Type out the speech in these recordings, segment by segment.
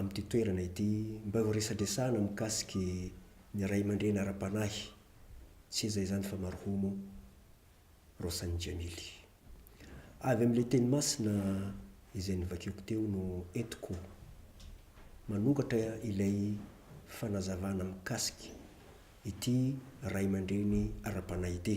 amin'ity toerana ity mba ho resadresahana mikasiky ny ray aman-dreny ara-panahy tsy iza izany fa marhomo Rossany Jamily. Avy amin'ilay teny masina izay novakiako teo no entiko manokatra ilay fanazavana mikasiky ity ray aman-dreny ara-panahy ity.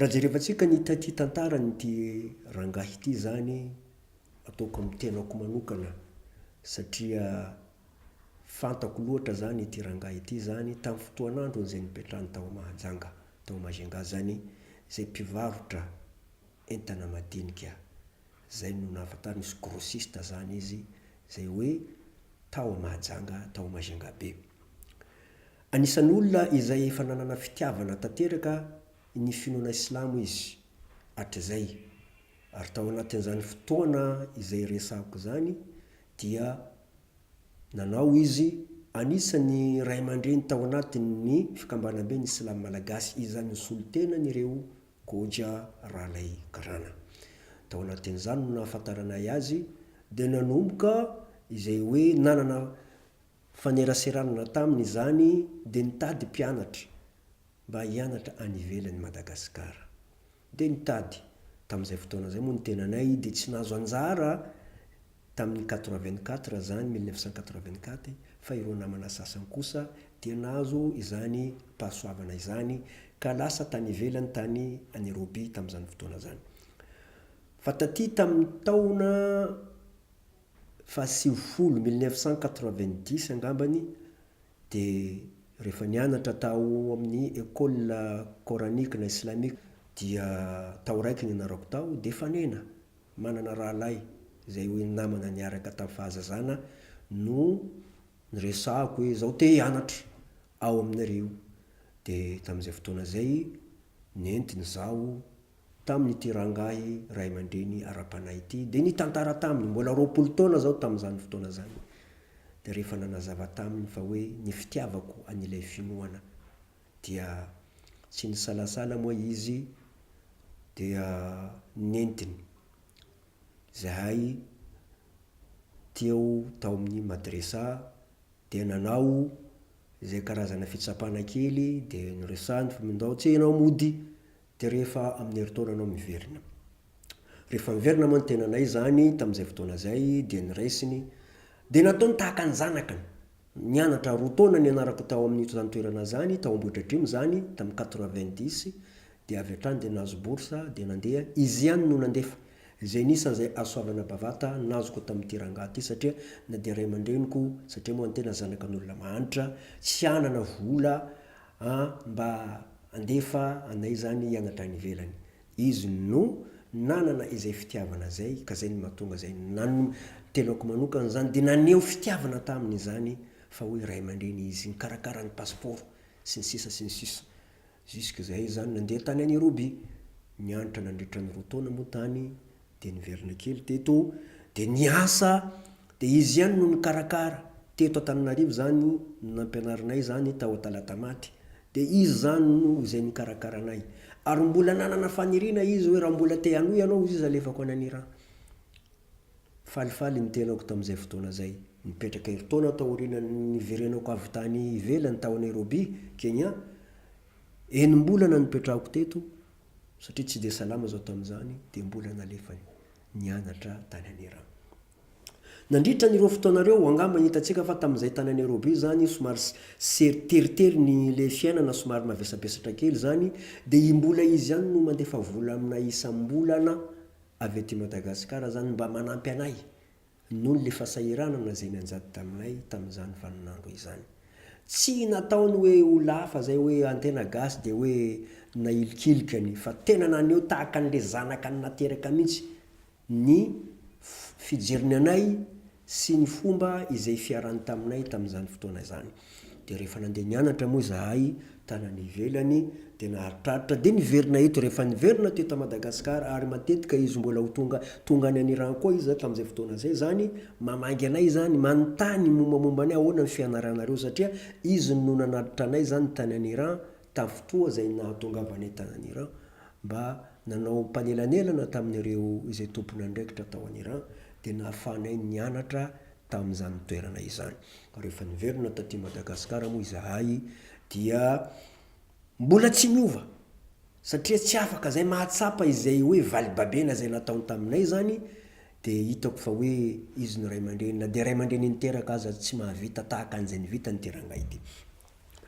Raha jerevantsika ny ity tantaran'ity rangahy ity izany, ataoko amin'ny tenako manokana satria fantako loatra izany ity rangahy ity izany tamin'ny fotoan'androny izay nipetrahany tao Mahajanga, tao Majunga izany, izay mpivarotra entana madinika. Izay no nahafantarana izy, grossiste izany izy, izay hoe tao Mahajanga, tao Majunga be. Anisan'olona izay efa nanana fitiavana tanteraka ny finoana silamo izy hatrizay, ary tao anatin'izany fotoana izay resahako izany dia nanao izy anisan'ny ray aman-dreny tao anatin'ny fikambanambe ny silamo malagasy izany nisolo tena an'ireo Goja Ralay Karana. Tao anatin'izany no nahafantaranay azy dia nanomboka izay hoe nanana Faneraserana taminy izany dia nitady mpianatra mba hianatra any ivelan'i Madagasikara. Dia nitady, tamin'izay fotoana izay moa ny tenanay dia tsy nahazo anjara tamin'ny quatre vingt quatre izany, mille neuf cent quatre vingt quatre, fa ireo namana sasany kosa dia nahazo izany pahasoavana izany ka lasa tany ivelany tany Nairobi tamin'izany fotoana izany. Fa taty tamin'ny taona fahasivifolo, mille neuf cent quatre-vingt-dix, angambany dia rehefa nianatra tao amin'ny Ecole Coranique na Islamique dia tao raiky ny ianarako tao dia fanena, manana rahalahy izay hoe namana niaraka tamin'ny fahazazana no niresahako hoe izaho te hianatra ao aminareo dia tamin'izay fotoana izay nentiny izaho tamin'ity rangahy ray aman-dreny ara-panahy ity, dia nitantara taminy, mbola roapolo taona izao tamin'izany fotoana izany, dia rehefa nanazava taminy fa hoe ny fitiavako an'ilay finoana, dia tsy nisalasala moa izy dia nentiny izahay teo tao amin'ny madresa, dia nanao izay karazana fitsapana kely, dia niresahany fa ndao tsy ianao mody Dia rehefa amin'ny herintaonanao miverina. Rehefa niverina moa ny tenanay izany tamin'izay fotoana izay dia niraisiny, dia nataony tahaka ny zanakiny. Nianatra roa taona nianarako tao amin'io izany toerana izany, tao Ambohidratrimo izany, tamin'ny quatre-vingt-dix, dia avy hatrany dia nahazo bourse dia nandeha, izy ihany no nandefa izay nisany izay azo soavana bavata nazoko tamin'ity rangahy ity satria na dia ray aman-dreniko, satria moa ny tena zanakan'olona mahantra, tsy hanana vola An mba andefa anay zany hianatra any ivelany. Izy no nanana izay fitiavana zay ka zay no mahatonga zay nan tenako manokana zany de naneho fitiavana taminy izany fa hoe ray aman-dreny izy nikarakara ny passeport sy ny sisa sy ny sisa jusque zay zany nandeha tany an Iroby nianatra nandritra ny roa taona moa tany Dia niverina kely teto, dia niasa, dia izy ihany no nikarakara. Teto Antananarivo izany no nampianarinay izany tao Talatamaty. Dia izy izany no izay nikarakara anay. Ary mbola nanana faniriana izy hoe raha mbola te hanohy ianao hoy izy alefako any an' Iran. Falifaly ny tenako tamin'izay fotoana izay. Nipetraka herintaona taorian'ny niverenako avy tany ivelany tao Nairobi, Kenya. Enim-bolana no nipetrahako teto. satria tsy dia salama zao tamin'izany dia mbola nalefany nianatra tany Anera. Nandritra an'ireo fotoana ireo, angamba hitantsika fa tamin'izay tany Nairobi izany somary sery teritery ny ilay fiainana somary mavesabesatra kely izany dia i mbola izy ihany no mandefa vola aminay isam-bolana avy aty Madagasikara izany mba manampy anay Noho ny fasahiranana izay nianjady taminay tamin'izany vaninandro izany. Tsy nataony hoe ho lafa izay hoe an'ny tena gasy dia hoe nailikilika ny fa tena naneho tahaka an'ilay zanaka nateraka mihitsy ny fijeriny anay sy ny fomba izay fiarany taminay tamin'izany fotoana izany. dia rehefa nandeha nianatra moa izahay tany any ivelany dia naharitraritra dia niverina eto, rehefa niverina teto Madagascar ary matetika izy mbola ho tonga tonga any Iran koa izy tamin'izay fotoana izay izany mamangy anay izany manontany mombamomba anay ahoana ny fianaranareo satria izy no nanatitra anay izany tany any Iran tamin'ny fotoa izay nahatongavanay tany any Iran mba nanao mpanelanelana tamin'ireo izay tompon'andraikitra tao any Iran dia nahafahanay nianatra tamin'izany toerana izany. Ka rehefa niverina taty Madagasikara moa izahay dia mbola tsy niova satria tsy afaka izay mahatsapa izay hoe valibabena izay nataony taminay izany dia hitako fa hoe izy no ray aman-dreny na dia ray aman-dreny niteraka aza tsy mahavita tahaka an'izay nivitany ity rangahy ity.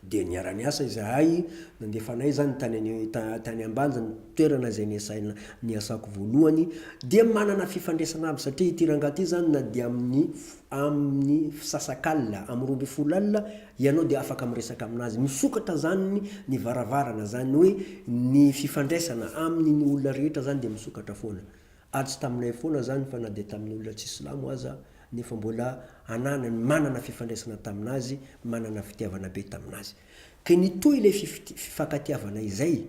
Dia niara-niasa izahay, nandefa anay izany tany any tany Ambanja ny toerana izay niasana niasako voalohany, dia manana fifandraisana aby satria ity rangahy ity izany na dia amin'ny amin'ny fisasakalina, amin'ny roa ambin'ny folo alina ianao dia afaka miresaka amin'azy, misokatra izany ny varavarana izany hoe ny fifandraisana aminy ny olona rehetra izany dia misokatra foana. Atsy taminay foana izany fa na dia tamin'olona tsy silamo aza nefa mbola ananany manana fifandraisana tamin'azy, manana fitiavana be tamin'azy. Ka nitohy ilay fifankatiavana izay,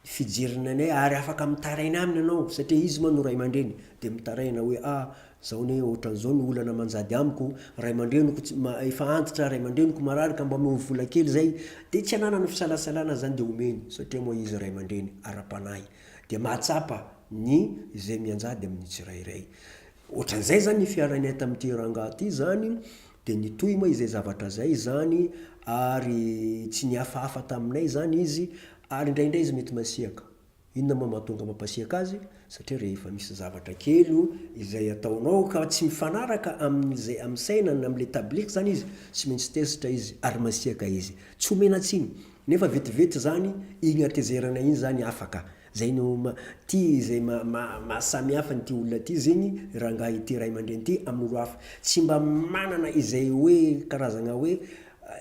fijeriny anay ary afaka mitaraina aminy ianao satria izy moa no ray aman-dreny dia mitaraina hoe a, izao anie ohatran'izao ny olana manjady amiko, ray aman-dreniko efa antitra, ray aman-dreniko marary ka mba omeo vola kely izay, dia tsy ananany fisalasalana izany dia omeny satria moa izy ray aman-dreny ara-panahy. dia mahatsapa ny izay mianjady amin'ny tsirairay. Ohatran'izay izany ny fiaranay tamin'ity rangahy ity izany, dia nitohy moa izay zavatra izay izany ary tsy nihafahafa taminay izany izy ary indraindray izy mety masiaka. Inona moa mahatonga mampasiaka azy? Satria rehefa misy zavatra kely o izay ataonao ka tsy mifanaraka amin'izay amin'ny saina na amin'ilay tableky izany izy, tsy maintsy tezitra izy ary masiaka izy. Tsy omena tsiny Nefa vetivety zany igny hatezerana igny zany afaka, zay no ty zay maha samy hafa an'ity olona ty zegny rangahy ity ray aman-dreny ty amin'olo hafa, tsy mba manana izay hoe karazagna hoe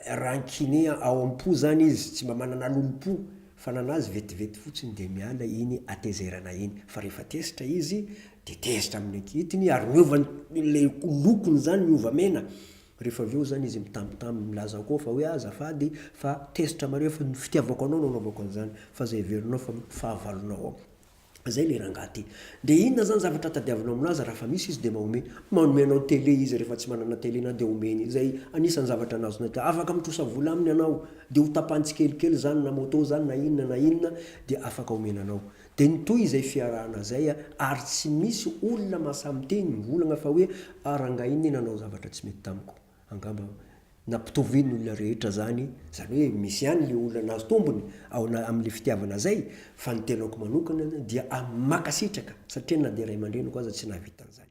rancune ao am-po zany izy, tsy mba manana lolompo, fa nanazy vetivety fotsiny de miala iny hatezerana iny, fa rehefa tezitra izy de tezitra amin'ny ankitiny ary miova ny le lokony zany miova mena. Rehefa avy eo izany izy mitambitamby milaza koa fa hoe ah azafady fa tezitra mareo fa ny fitiavako anao no anaovako an'izany fa izay heverinao fa fahavalonao ao. Izay ilay rangahy ty. Dia inona izany zavatra tadiavinao amin'azy raha fa misy izy dia manome. Manome anao tele izy rehefa tsy manana tele na dia omeny. Izay anisan'ny zavatra anazonay teo. Afaka mitrosa vola aminy ianao dia ho tapahany tsikelikely izany na moto izany na inona na inona dia afaka omena anao. Dia nitohy izay fiarahana izay ary tsy misy olona mahasamiteny mivolaña fa hoe ah rangahy iny nanao zavatra tsy mety tamiko. Angamba nampitoviany olona rehetra izany, izany hoe misy ihany ilay olona nahazo tombony ao amin'ilay fitiavana izay fa ny tenako manokana dia ah mankasitraka satria na dia ray aman-dreniko aza tsy nahavita an'izany.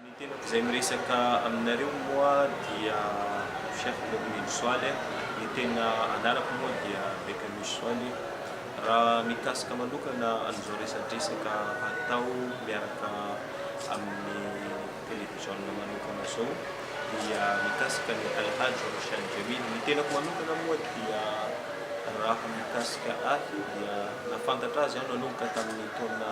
Ny tenako izay miresaka aminareo moa dia Chef Mokhmil Soaly, ny tena anarako moa dia Bekanus Soaly. Raha mikasika manokana an'izao resadresaka atao miaraka amin'ny televiziona manokana izao dia mikasika an'i Alhaj Roshan Jamil. Ny tenako manokana moa dia raha mikasika ahy dia nahafantatra azy aho nanomboka tamin'ny taona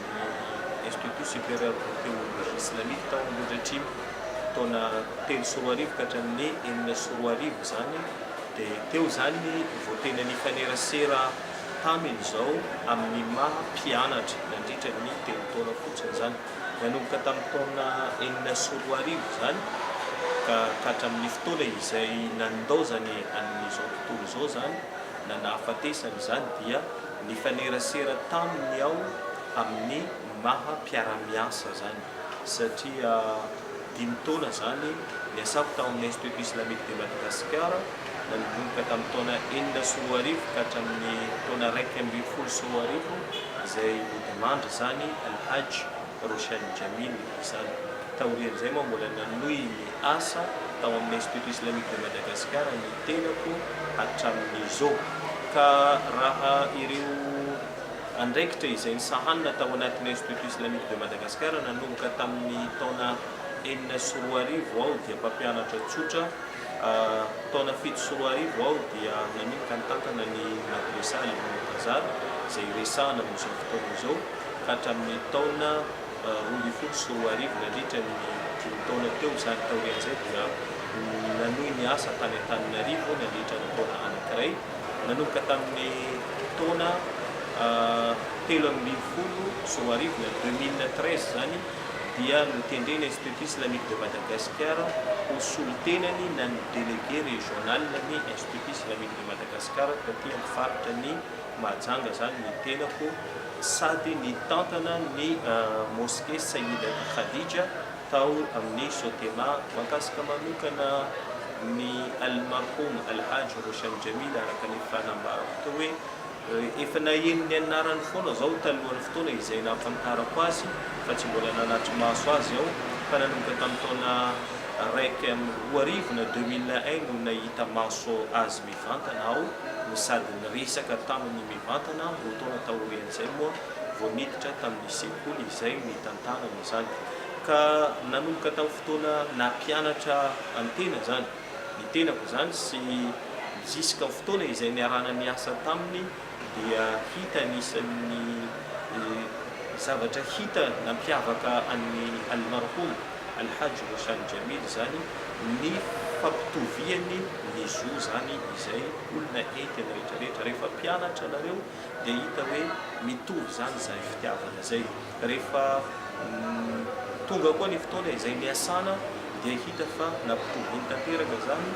ny Institut Supérieur de Théologie Islamique tao amin'io rejimy taona telo sy roa arivo ka hatramin'ny enina sy roa arivo izany dia teo izany vao tena nifanerasera taminy izao amin'ny maha mpianatra nandritra ny telo taona fotsiny izany nanomboka tamin'ny taona enina sy roa arivo izany ka ka hatramin'ny fotoana izay nandaozany an'izao tontolo izao izany na nahafatesany izany dia Nifanerasera taminy aho amin'ny maha mpiara-miasa zany satria dimy taona zany niasako tao amin'ny Institut Islamique de Madagascar nanomboka tamin'ny taona enina sy roa arivo ka hatramin'ny taona iraika ambin'ny folo sy roa arivo izay nodimandry zany Al-Hajj Roshan Jamil izany. Taorian'izay moa mbola nanohy ny asa tao amin'ny Institut Islamique de Madagascar ny tenako hatramin'izao. Ka raha ireo andraikitra izay nisahanina tao anatin'ny Institut Islamique de Madagascar nanomboka tamin'ny taona enina sy roa arivo aho dia mpampianatra tsotra, taona fito sy roa arivo aho dia nanomboka nitantana ny Madrasa Al-Muntazar izay resahana amin'izao fotoana izao. ka hatramin'ny taona roa ambin'ny folo sy roa arivo nandritra ny dimy taona teo izany taorian'izay dia nanohy ny asa tany Antananarivo nandritra ny taona anankiray nanomboka tamin'ny taona telo amby ambin'ny folo sy roa arivo na deux mille treize izany dia notendrena Institut Islamique de Madagascar ho solontenany na ny Délégué Régional ny Institut Islamique de Madagascar taty amin'ny faritra ny Mahajanga zany ny tenako sady nitantana ny Mosquée Sayyid Khadija tao amin'ny Sotema. Mankasitra manokana ny Almarhoum Alhaj Roshan Jamil araka ny fanambarako teo hoe efa naheno ny anarany foana zao talohan'ny fotoana izay nahafantarako azy fa tsy mbola nanatri-maso azy aho fa nanomboka tamin'ny taona iraika amby roa arivo na deux mille un no nahita maso azy. Mivantana aho no sady niresaka taminy mivantana roa taona taorian'izay moa vao niditra tamin'ny sekoly izay nitantanana izany. Ka nanomboka tamin'ny fotoana nampianatra an'ny tena izany ny tenako izany sy ziska ny fotoana izay niarahana niasa taminy dia hita anisan'ny zavatra hita nampiavaka an'i Almarhoum Alhaj Roshan Jamil izany ny fampitoviany ny zo izany izay olona enty ny rehetra rehetra rehefa mpianatra ianareo dia hita hoe mitovy izany izay fitiavana izay rehefa Tonga koa ny fotoana izay niasana dia hita fa nampitoviany tanteraka izany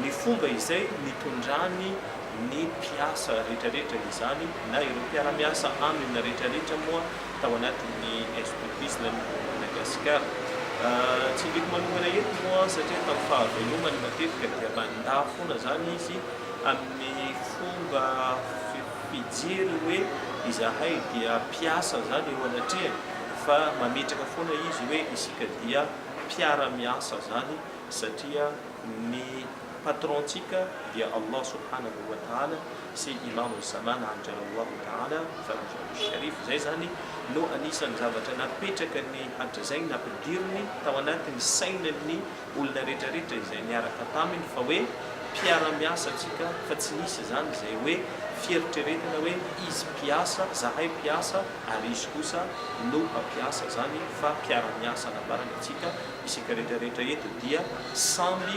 ny fomba izay nitondrany ny mpiasa rehetra rehetra izany na ireo mpiara-miasa aminy rehetra rehetra moa tao anatin'ny Escoutisme any Madagascar. Tsy indiko manokana eto moa satria tamin'ny fahavelomany matetika dia mandà foana izany izy amin'ny fomba fijery hoe izahay dia mpiasa izany eo anatrehany fa mametraka foana izy hoe isika dia mpiara-miasa izany satria ny Patron-tsika dia Allah Subhanahu wa Ta'ala sy Imam Osama naharitra Rallahu Ta'ala anhu al-Sharif, izay izany no anisan'ny zavatra napetraka ny hadra izay nampidiriny tao anatin'ny sainan'ny olona rehetra rehetra izay niaraka taminy fa hoe mpiara-miasa antsika fa tsy nisy izany izay hoe fieritreretana hoe izy mpiasa zahay mpiasa ary izy kosa no mpampiasa izany fa mpiara-miasa nambarany antsika isika rehetra rehetra eto dia samby